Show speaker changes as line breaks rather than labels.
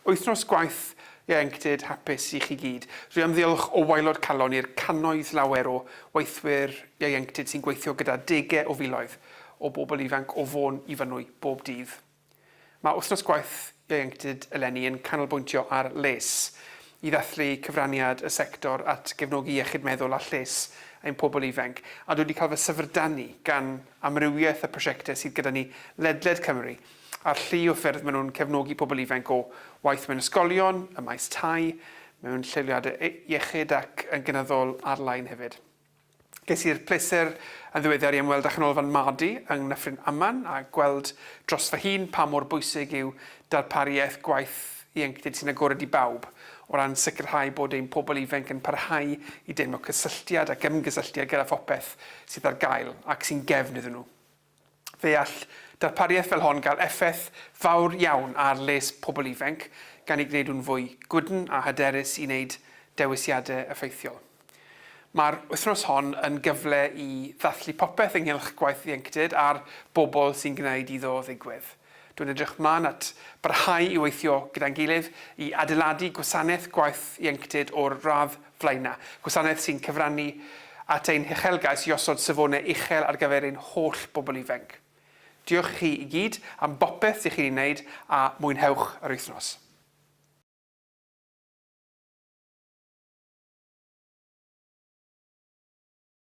Wythnos gwaith ieuenctid hapus i chi gyd. Dwi am ddiolch o waelod calon i'r cannoedd lawer o weithwyr ieuenctid sy'n gweithio gyda dege o filoedd o bobl ifanc o Fôn i Fynwy bob dydd. Mae Wythnos Gwaith Ieuenctid eleni yn canolbwyntio ar les, i ddathlu cyfraniad y sector at gefnogi iechyd meddwl a lles ein pobl ifainc, a dwi wedi cael fy syfrdanu gan amrywiaeth y prosiectau sydd gyda ni ledled Cymru, a'r llu o ffyrdd maen nhw'n cefnogi pobl ifainc o waith mewn ysgolion, ym maes tai, mewn lleoliadau iechyd ac yn gynyddol ar-lein hefyd. Ges i'r pleser yn ddiweddar i ymweld â Chanolfan Madi yng Nghyffryn Aman a gweld dros fy hun pa mor bwysig yw darparu iaith gwaith ieuenctid sy'n agored i bawb o ran sicrhau bod ein pobl ifainc yn parhau i deimlo cysylltiad ac ymgysylltiad gyda phopeth sydd ar gael ac sy'n gefn iddyn nhw. Fe all darpariaeth fel hon gael effaith fawr iawn ar les pobl ifainc gan ei gwneud nhw'n fwy gwydn a hyderus i wneud dewisiadau effeithiol. Mae'r wythnos hon yn gyfle i ddathlu popeth ynghylch gwaith ieuenctid a'r bobl sy'n gwneud iddo ddigwydd. Dwi'n edrych mlaen at barhau i weithio gyda'n gilydd i adeiladu gwasanaeth gwaith ieuenctid o'r radd flaenaf, gwasanaeth sy'n cyfrannu at ein huchelgais i osod safonau uchel ar gyfer ein holl bobl ifainc. Diolch i chi i gyd am bopeth dych chi'n ei wneud a mwynhewch yr wythnos.